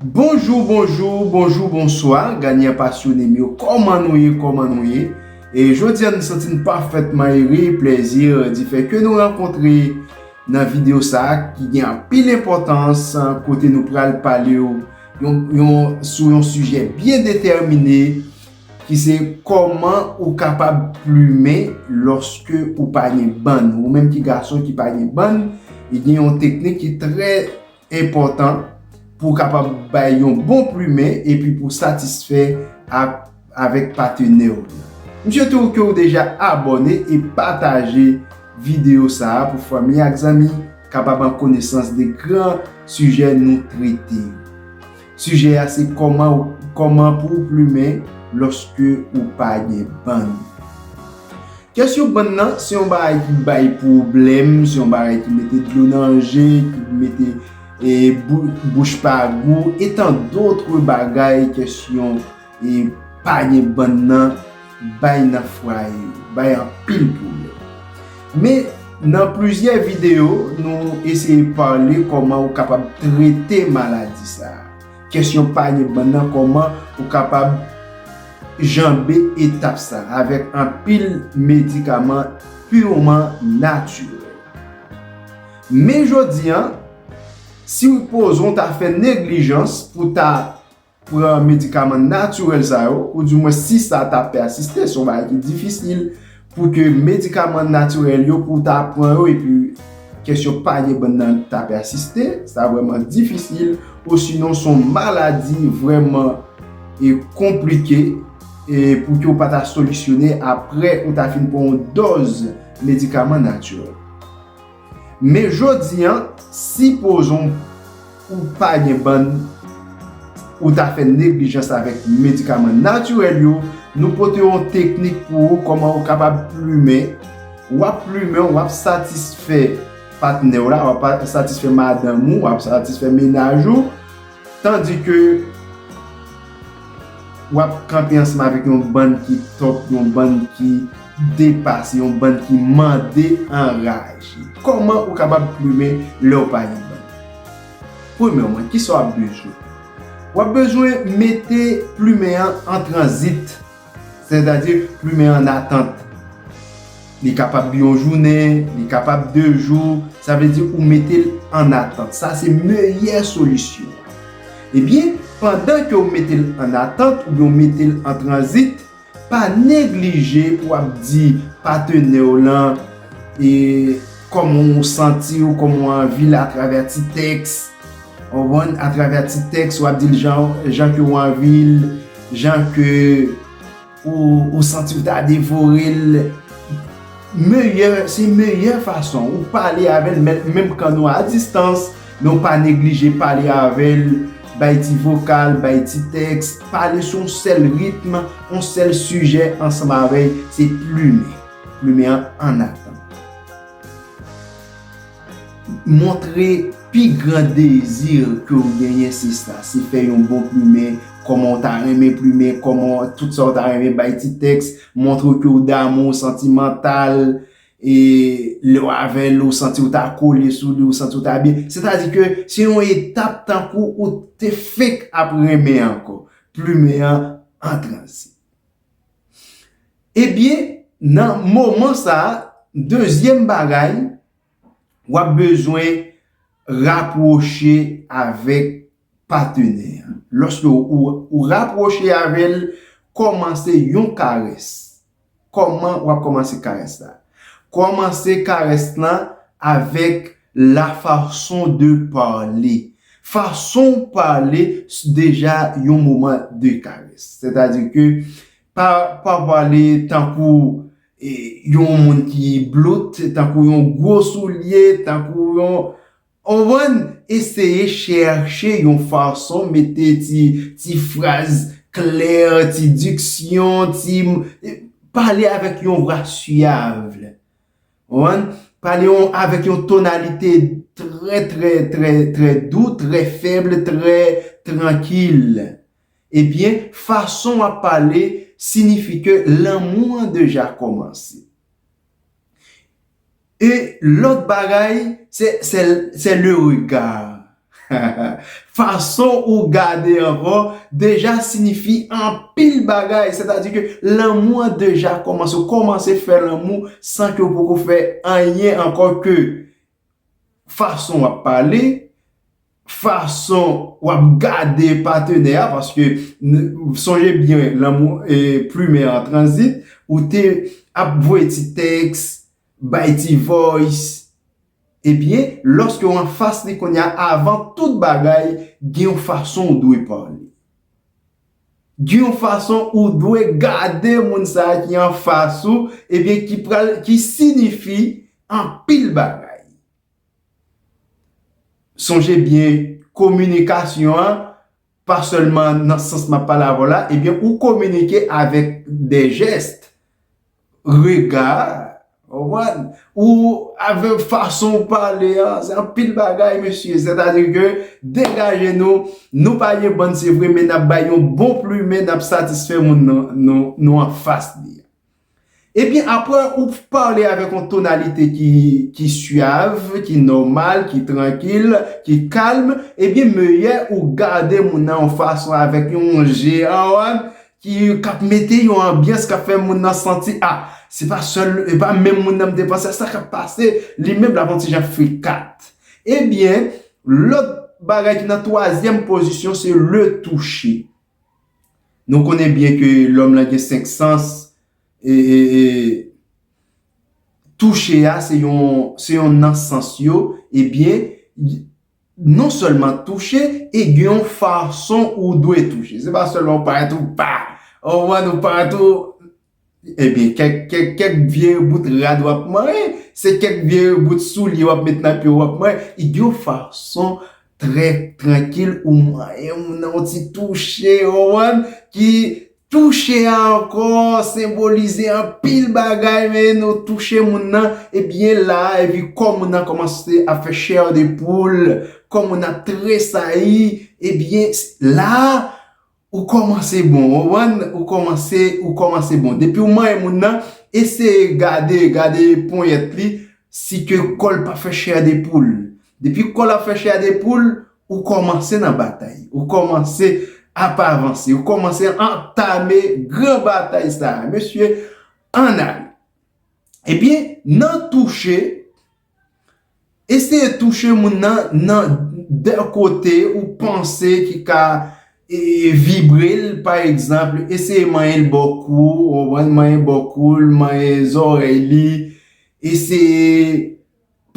Bonjou bonjou bonjou bonswa ganyan pasyone m yo kòman nou ye kòman nou ye e jodi a nou santi n pafètman ere plèzi di fè ke nou rankontre nan video sa ki gen anpil enpòtans kote nou pral pale w yon sou yon sijè byen detèmine ki se kòman ou kapab plumen lòske ou pa gen bann ou menm ki gason ki pa gen bann e gen yon teknik ki trè enpòtan pou kapab bay yon bon plumen epi pou satisfè avèk patenè ou yo. M swete ou ke ou deja abòne e pataje videyo sa a pou fanmi ak zanmi kapab an konesans de gran sijè nou trete yo. Sijè a se kòman ou kòman pou w plumen lòske ou pa gen bann. Kesyon bann nan se yon bagay ki bay pwoblèm, se yon bagay ki mete dlo nan je, ki mete e bouch pa gou etan dotre bagay kesyon. E pa gen bann nan bay nan fwaye yo. Bay anpil pwoblèm. Men, nan plizyè videyo, nou eseye pale kòman ou kapab trete maladi sa a. Kesyon pa gen bann nan kòman ou kapab janbe etap sa a avèk anpil medikaman pirman natirèl. Men jodi an, si ou poze ou ta fè neglijans pou ta pran medikaman natirèl sa yo, ou di mwen si sa ta pèsiste, se yon bagay ki difisil pou ke medikaman natirèl yo pou ta pran yo epi kesyon pa gen bann nan ta pèsiste, sa vreman difisil, osinon se yon maladi vreman e konplike e pou ke ou pa ta solisyone apre ou ta fin pran yon dòz medikaman natirèl. Men jodi an, si pozon ou pa gen bann, ou ta fè neglijans avèk medikaman natirèl yo, nou pote yon teknik pou ou kòman ou kapab plumen, w ap plumen, w ap satisfè patnè w la, w ap satisfè madanm ou, w ap satisfè mennaj ou. Tandis ke wap kanpe ansanm avèk yon bann ki top, yon bann ki depase, yon bann ki mande anraje. Kòman ou kapab plumen lèw pa gen bann? Premyèman, kisa wap bezwen? Wap bezwen mete plumen an an tranzit. Sètadi, plumen an atant. Li kapab yon jounen, li kapab 2 jou, sa vle di ou mete l an atant. Sa se meyè solisyon an. Ebyen, pandan ke ou mete l an atant oubyen ou mete l an tranzit, pa neglije pou w ap di patenè w lan e kòman ou santi w, kòman ou anvi l atravè ti tèks. Konprann a travè ti tèks wap dil janw jan ke ou anvil jan ke ou santiw ta devorel meyè se meyè fason ou pale avèl menm kan nou a distans men ou pa neglije pale avèl bay ti vokal bay ti tèks pale sou yon sèl ritm yon sèl sijè ansanm avèy se plumen plumen an anatan. Montre pi gran dezi ke ou genyen sista, se fè yon bon plimen, kòman ou ta renmen plimen, kòman tout sa ou ta renmen bay ti tèks, montre ke ou damou, ou santimantal, e lè ou avè l, ou santi ou ta kole sou li, ou santi ou ta byen. Sètadi ke se yon etap tankou ou te fenk ap renmen ankò. Plimen an an tranzit. Ebyen, nan moman sa a, dezyèm bagay, w ap bezwen rapwoche avèk patenè a. Lòske ou rapwoche avè l, kòmanse yon karès. Kòman w ap kòmanse karès la? Kòmanse karès lan avèk La façon de parler, Fason w pale s deja yon moman de karès. Sètadi ke pa pa pale tankou yon moun ki bloutt, tankou yon gwo soulye, tankou yon Ou konprann? Eseye chèche yon fason mete ti ti fraz klè, ti diksyon, ti Pale avèk yon vwa syav. One, pale yon avèk yon tonalite trè trè trè trè dou, trè fèb, trè trankil. Ebyen, fason w ap pale sinifi ke lanmou an deja kòmanse. E lòt bagay, se le regard. Fason ou gade ankò deja sinifi anpil bagay, sètadi ke lanmou an deja kòmanse, ou kòmanse fè lanmou san ke ou poko fè anyen ankò ke fason w ap pale, fason w ap gade patenè a, paske sonje byen lanmou plumen an tranzit, ou te ap voye ti tèks, bay ti voice, Ebyen, lòske w anfas li kounye a, avan tout bagay, gen yon fason ou dwe pale. Gen yon fason ou dwe gade moun sa a ki anfas ou, ebyen ki pral, ki sinifi anpil bagay. Sonje byen, kominikasyon an, pa sèlman nan sans m ap pale avè w la, ebyen ou kominike avèk de jès. Rega a, ou konprann? Ou avèk fason ou pale a, se anpil bagay mesye. Sètadi ke degaje nou, nou pa gen bann se vre men n ap bay yon bon plumen, n ap satisfè moun nou anfas li a. Ebyen apre ou pale avèk yon tonalite ki syav, ki nòmal, ki trankil, ki kalm, ebyen meyè ou gade moun nan yon fason avèk yon je, ou konprann? ki kap mete yon anbyans kap fè moun nan santi a se pa sèl e pa menm moun nan m te panse a sa kap pase li menm lap yon ti jan frikat ebyen lòt bagay ki nan twazyèm pozisyon se le touche nou konnen byen ke lòm lan gen 5 sans e touche a se yon se yon nan sans yo ebyen non sèlman touche e gen yon fason ou dwe touche. Se pa sèlman ou parèt ou pa, ou konprann, ou parèt ou, ebyen kèk, kèk, kèk vye bout rad w ap manyen, se kèk vye bout soulye w ap met nan pye w w ap manyen, e gen yon fason trè trankil ou manyen moun nan, yon ti touche, ou konprann, ki Touche a ankò senbolize anpil bagay men nou touche moun nan e byen la a epi kò moun nan kòmanse ap fè chair de poule, kò moun ap tresayi e byen la a ou kòmanse bon ou konprann ou kòmanse ou kòmanse bon depi ou manyen moun nan eseye gade gade ponyèt li si ke kò l pa fè chair de poule depi kò l ap fè chair de poule Ou kòmanse nan batay. Ou kòmanse ap avanse. Ou kòmanse antame gran batay sa a. Mesye, ann ale. Ebyen, nan touche, eseye touche moun nan nan de kote ou panse ki ka vibre l. Pa egzanp, eseye manyen l bò kou, manyen bò kou l, manyen zòrèy li, eseye.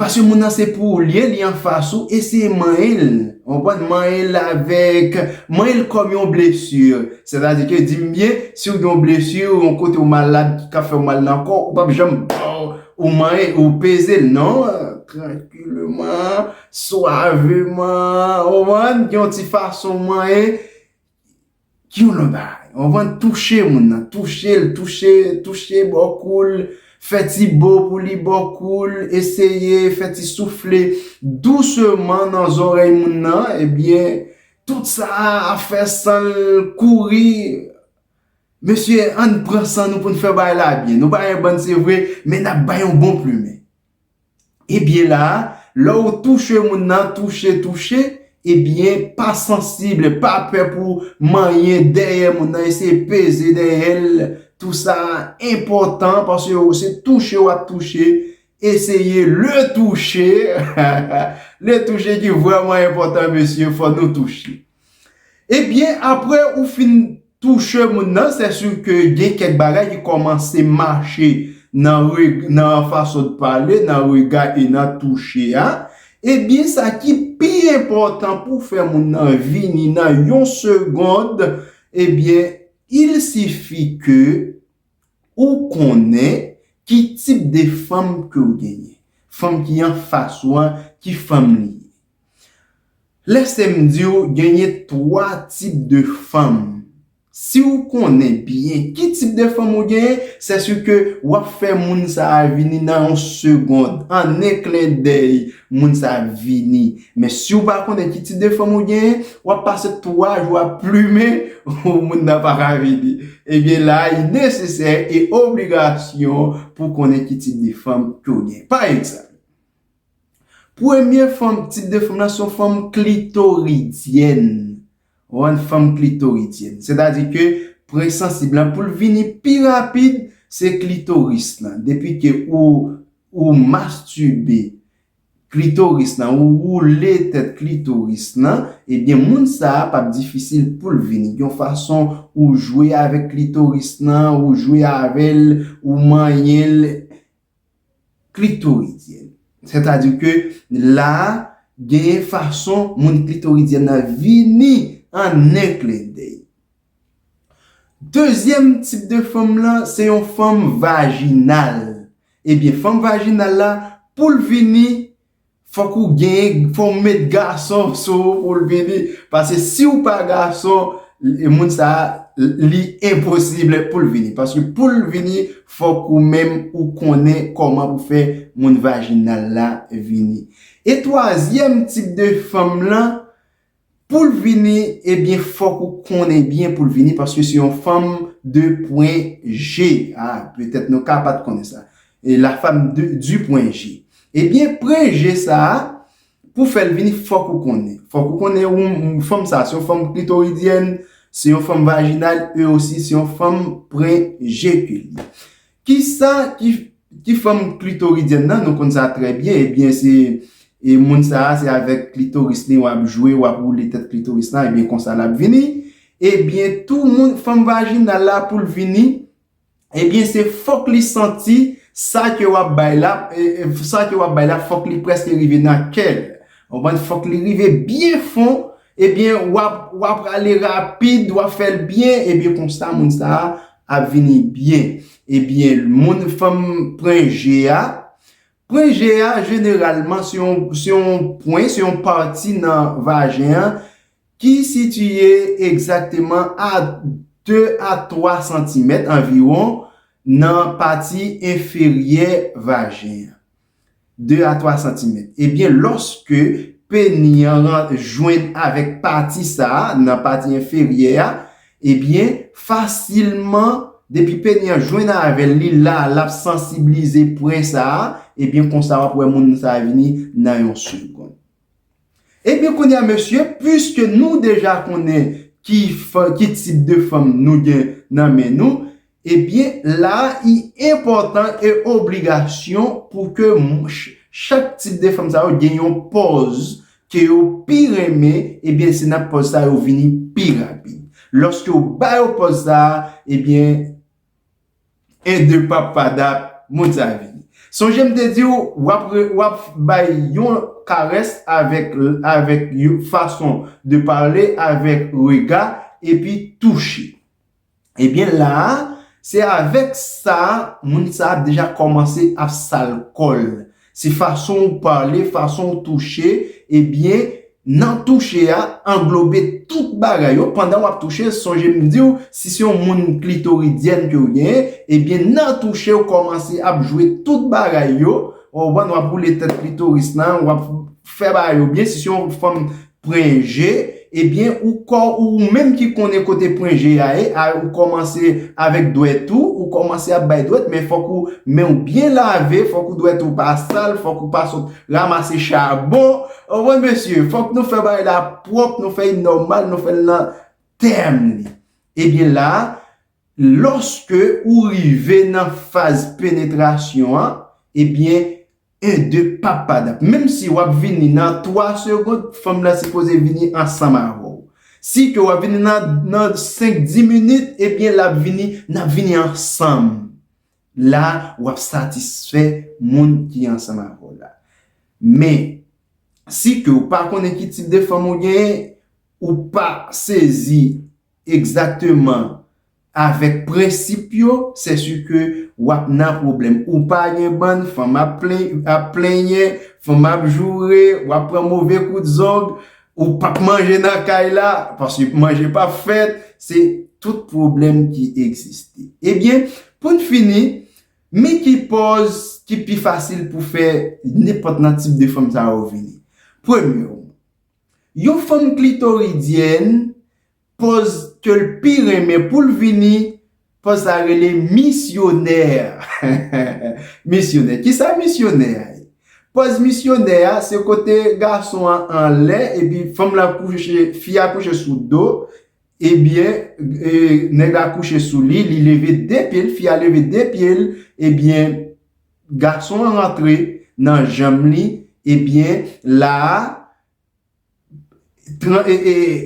Paske moun nan se pou ou li ye, li anfas ou, eseye manyen l, ou konprann, manyen l avèk, manyen l kòm yon blesi, sètadi ke di m byen, si w gen yon blesi, yon kote ou malad ki ka fè w mal nan kò, ou pap janm baw, ou manyen, ou peze l, non, trankileman, swaveman, ou konprann, gen yon ti fason w manyen, Ki yon lòt bagay. Ou konprann? Touche moun nan. Touche l. Touche, touche bò kou l. Fè ti bo pou li bò kou l. Eseye fè ti soufle douseman nan zòrèy moun nan. Ebyen, tout sa a ap fè san l kouri. Mesye, ann pran san nou pou n fè bagay la byen. Nou pa gen bann se vre, men n ap bay yon bon plimen. Ebyen la a, lè ou touche moun nan, touche, touche, ebyen pa sansib, pa pè pou manyen dèyè moun nan, eseye peze dèyè l, tou sa a enpòtan paske ou se touche w ap touche, eseye le touche, le touche ki vrèman enpòtan mesye, fò nou touche. Ebyen apre ou fin touche moun nan se su ke gen kèk bagay ki kòmanse mache nan reg nan fason w pale nan rega e nan touche a ebyen sa ki pi enpòtan pou w fè moun nan vini nan yon segond ebyen il sifi ke ou konnen ki tip de fanm ke w genyen fanm ki anfas ou an ki fanm li ye Lèse m di w genyen 3 tip de fanm. Si w konnen byen ki tip de fanm ou genyen, sèsuke w ap fè moun sa a vini nan yon segond, an 1 klendèy moun sa a vini. Men si w pa konnen ki tip de fanm ou genyen, w ap pase 3 jou ap plumen, moun nan pa ka vini. Ebyen la a, li nesesè e obligasyon pou w konnen ki tip de fanm ke w genyen. Pa egzanp. Premye fòm, tip de fòm nan se yon fòm klitoridyèn. Ou wè, fòm klitoridyèn. Sètadi ke pwen sansib lan pou l vini pi rapid, se klitoris lan. Depi ke ou mastibe klitoris lan, ou woule tèt klitoris lan, ebyen moun sa a pap difisil pou l vini. Yon fason ou jwe avèk klitoris lan, ou jwe avè l, ou manyen l, klitoridyèn. Sètadi ke la a, genyen fason moun klitoridyèn nan vini an en klendèy. Dezyèm tip de fanm lan, se yon fanm vajinal. Ebyen, fanm vajinal la, pou l vini, Fok ou gen fon w met gason sou ou pou l vini pase si w pa gason moun sa li enposible pou l vini paske pou l vini fok ou menm ou konnen koman pou fè moun vajinal la vini e twazyèm tip de fanm lan Poul vini ebyen fòk ou konnen byen poul vini paske se yon fanm de pwen je ah petèt nou ka pat konnen sa e la fam de du pwen je ebyen pwen je sa pou fèl vini fòk ou konnen fòk ou konnen ou fanm sa se yon fanm klitoridyèn se yon fanm vajinal e osi se yon fanm pwen je ke li Kisa ki fòm klitoridyèn nan, nou konn sa trè byen, ebyen se moun sa a se avèk klitoris li wap jwe, wap woule tèt klitoris la, ebyen konsa lap vini, ebyen tou moun fòm vajinal la poul vini, ebyen se fòk li santi sa ke wap bay la, sa ke wap bay la fòk li prèske rive nan kèl, ou konprann, fòk li rive byen fon Ebyen wap wap prale rapid wap fèl byen ebyen konsa moun sa ap vini byen ebyen moun fanm pren je a pren je a jeneralman se yon se yon pwen se yon pati nan vajen an ki sitiye egzakteman a 2 a 3 santimèt anviwon nan pati enferyè vajen an. 2 a 3 santimèt. Ebyen lòske peni an jwenn avèk pati sa a nan pati enferyè a, ebyen fasilman depi peni an jwenn avè l, li la l ap sansiblize pwen sa a, ebyen konsa w ap wè moun sa a vini nan yon segonn. Ebyen kounye a mesye, puiske nou deja konnen ki fanm, ki tip de fanm nou gen nan men nou, ebyen la i enpòtan e obligasyon pou ke chak tip de fanm sa yo gen yon pòz ke yo pi renmen, ebyen se nan pòz sa yo vini pi rapid. Lòske ou ba yo pòz sa a, ebyen. 1 2 pap pa dat moun sa vini sonje m te diw wap wap bay yon karès avèk avèk yon fason de pale avèk rega epi touche ebyen la se avèk sa moun sa ap deja kòmanse ap sal kòl Se fason ou pale, fason ou touche, ebyen nan touche a anglobe tout bagay yo, pandan wap touche sonje m diw si se yon moun klitoridyèn kew genyen ebyen nan touche ou kòmanse ap jwe tout bagay yo, ou konprann wap boule tèt klitoris lan, wap fè bagay yo byen, si se yon fanm Pwen je, Ebyen ou kò ou ou menm ki konnen kote pwen je a ye a ou kòmanse avèk dwèt ou, ou kòmanse ap bay dwèt men fòk ou men ou byen lave, fòk ou dwèt ou pa sal, fòk ou pa sot ramase chabon, anmwey mesye fòk nou fè bagay la pwòp nou fè li nòmal nou fèl nan tèm li. Ebyen la lòske ou rive nan faz penetrasyon an ebyen 1 2 pap pardn menm si wap vini nan 3 segond fanm nan sipoze vini ansanm avèw si ke wap vini nan 5 10 minit ebyen lap vini nap vini ansanm la wap satisfè moun ki ansanm avèw la men si ke ou pa konnen ki tip de fanm ou genyen ou pa sezi egzakteman Avek prensip yo se su ke wap nan pwoblem ou pa gen bann fanm ap plenyen fanm ap joure wap pran move kout zong ou pap manje nan kay la paske manje pap fet se tout pwoblem ki egziste ebyen poun fini mi ki poz ki pi fasil pou fe nenpot nan tip de fanm sa yo vini premye yon fanm klitoridyèn Pòz ke l pi renmen pou l vini, pòz sa rele misyonè. Misyonè, kisa misyonè a ye? Pòz misyonè a, se kote gason an anlè epi fanm lan kouche, fi a kouche sou do, ebyen, nèg la kouche sou li, li leve 2 pye l, fi a leve 2 pye l, ebyen, gason an rantre nan janm li, ebyen, la a,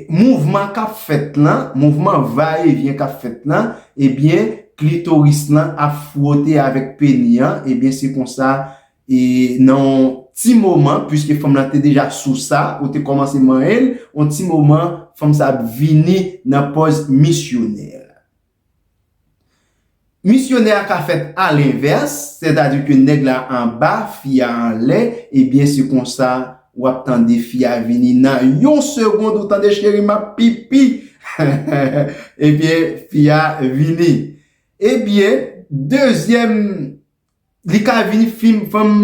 mouvman kap fèt la, mouvman va e vyen kap fèt la, ebyen klitoris la ap fwote avèk peni an, ebyen se konsa e nan yon ti moman, pwiske fanm la te deja sou sa, ou te kòmanse manyen l, yon ti moman fanm sa ap vini nan pòz misyonè. Misyonè a ka fèt alenvès, sètadi ke nèg la anba, fi a anlè, ebyen se konsa w ap tande fi a vini nan yon segond ou tande cheri m ap pipi ebyen fi a vini. Ebyen dezyèm Li ka vini fim fanm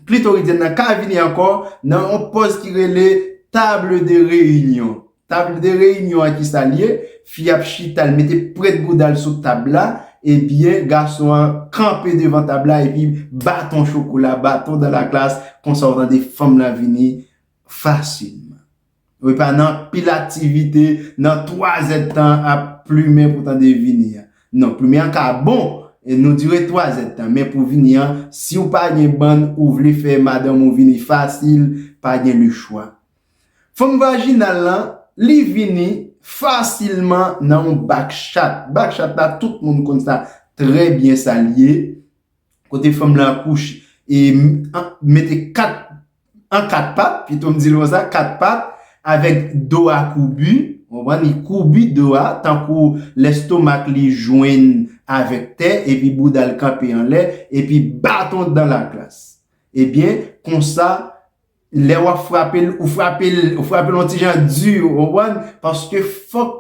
klitoridyèn nan ka vini ankò nan yon pòz ki rele table de réunion. Table de réunion an ki sa l ye? Fi ap chita l mete pwent bouda l sou tab la ebyen gason an kanpe devan tab la epi baton chokola, baton dans la glace konsa w tande fanm lan vini fasilman. Wi pa nan pil aktivite nan 3 zè tan ap plumen pou tande vini an. Non plumen an ka bon e nou dire 3 zè tan men pou vini an si w pa gen bann ou vle fè madanm ou vini fasil pa gen le chwa. Fanm vajinal lan li vini fasilman nan yon bak chat. Bak chat la tout moun konn sa trè byen sa l ye. kote fanm lan ap kouche e mete 4 an 4 pat pito m di l konsa 4 pat avèk do a koubi ou konprann li koubi do a tankou lestomak li jwenn avèk tè epi bouda l kanpe anlè epi baton dan la glas ebyen konsa lè w ap frape l ou frape l ou frape l yon ti jan di ou konprann paske fòk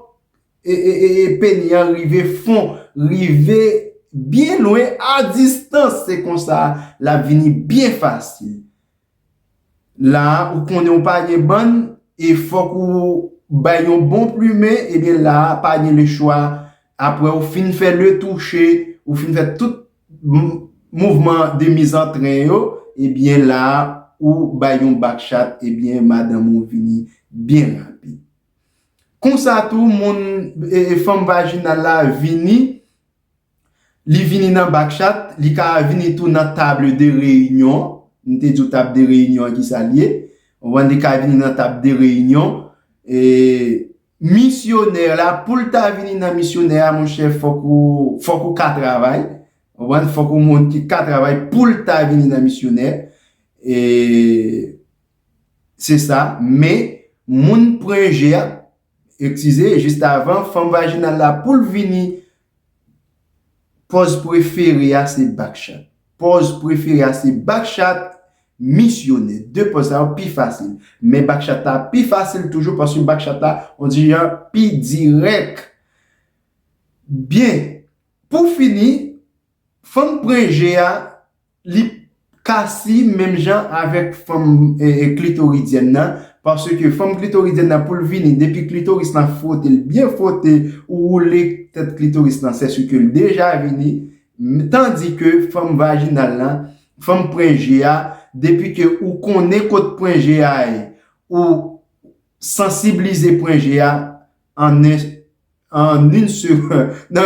E peniel rive fon rive byen lwen a distans se konsa lap vini byen fasil la ou konnen ou pa gen bann e fok ou bay yon bon plumen ebyen la pa gen le chwa apre ou fin fè le touche ou fin fè tout mouvman de mizantren yo ebyen la ou bay yon bak chat ebyen madanm ou vini byen rapid. Konsa tou moun e fanm vajinal la vini, li vini nan bakchat, li ka vini tou nan table de réunion, m te di w table de réunion an ki sa l ye, ou konprann, li ka vini nan table de réunion, e misyonè la, pou l ta vini nan misyonè a mon chè fòk ou, fòk ou ka travay, ou konprann, fòk ou moun ki ka travay pou l ta vini nan misyonè, e. Se sa, men, moun pren je a, ekzize, jistavan, fanm vajinal la pou l vini. Pòz prefere a se bakchat. Pòz prefere a se bakchat, misyonè. De pòz sa yo pi fasil. Men bakchat la pi fasil toujou paske bakchat la, on di jan, pi dirèk. Byen, pou fini, fanm pren je a, Li ka si menm jan avèk fòm klitoridyèn nan, paske fòm klitoridyèn nan pou l vini depi klitoris lan fwote l byen fwote ou woule tèt klitoris lan sè si ke l deja vini, tandi ke fòm vajinal lan, fòm pwen je a, depi ke ou konnen kot pwen je a ye, ou sansiblize pwen je a, nan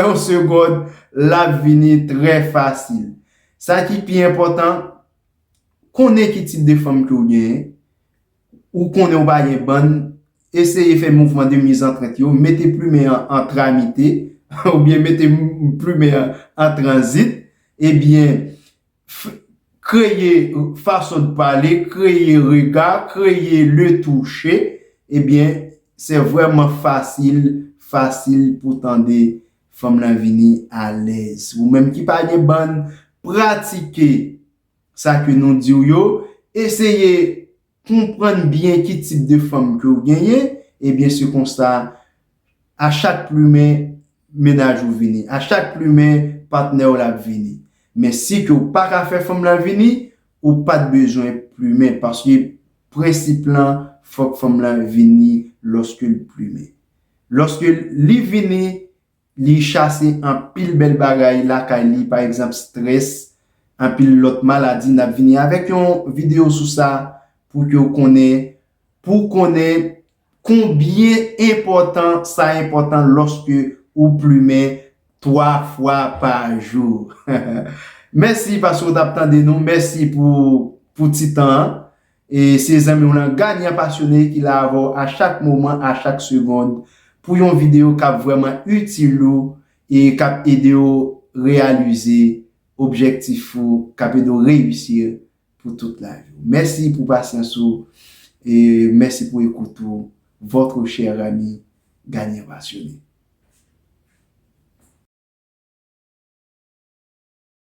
yon segond l ap vini trè fasil. Sa ki pi enpòtan, konnen ki tip de fanm ke ou genyen, ou konnen ou pa gen bann, eseye fè mouvman de mizantrent yo, mete plumen an an tramite, oubyen mete plumen an an tranzit, ebyen, kreye fason de pale, kreye rega, kreye le touche, ebyen se vreman fasil, fasil pou tande fanm lan vini alèz. Ou menm ki pa gen bann, pratike sa ke nou diw yo, eseye Konprann byen ki tip de fanm ke w genyen, ebyen se konsa a chak plumen mennaj ou vini, a chak plumen patnè w la ap vini. Men si ke w pa ka fè fanm la vini, ou pa t bezwen plumen paske prensip lan fòk fanm lan vini lòske l plumen. Lòske li vini, Li chase anpil bèl bagay lakay li pa egzanp strès, anpil lòt maladi nap vini avèk yon video sou sa pou ke ou konnen pou konnen konbyen enpòtan sa enpòtan lòske ou plumen 3 fwa pa jou. Mèsi paske ou tap tande nou, mèsi pou ti tan an. E se zanmiw lan Gadyan Pasyone ki la avèw a chak moman, a chak segond pou yon video kap vrèman itil ou e kap edew reyalize objektif ou, kap edew reyisir pou tout lavi w. Mèsi pou pasyans ou e mèsi pou ekout ou votre cher ami Gadyen Pasyone.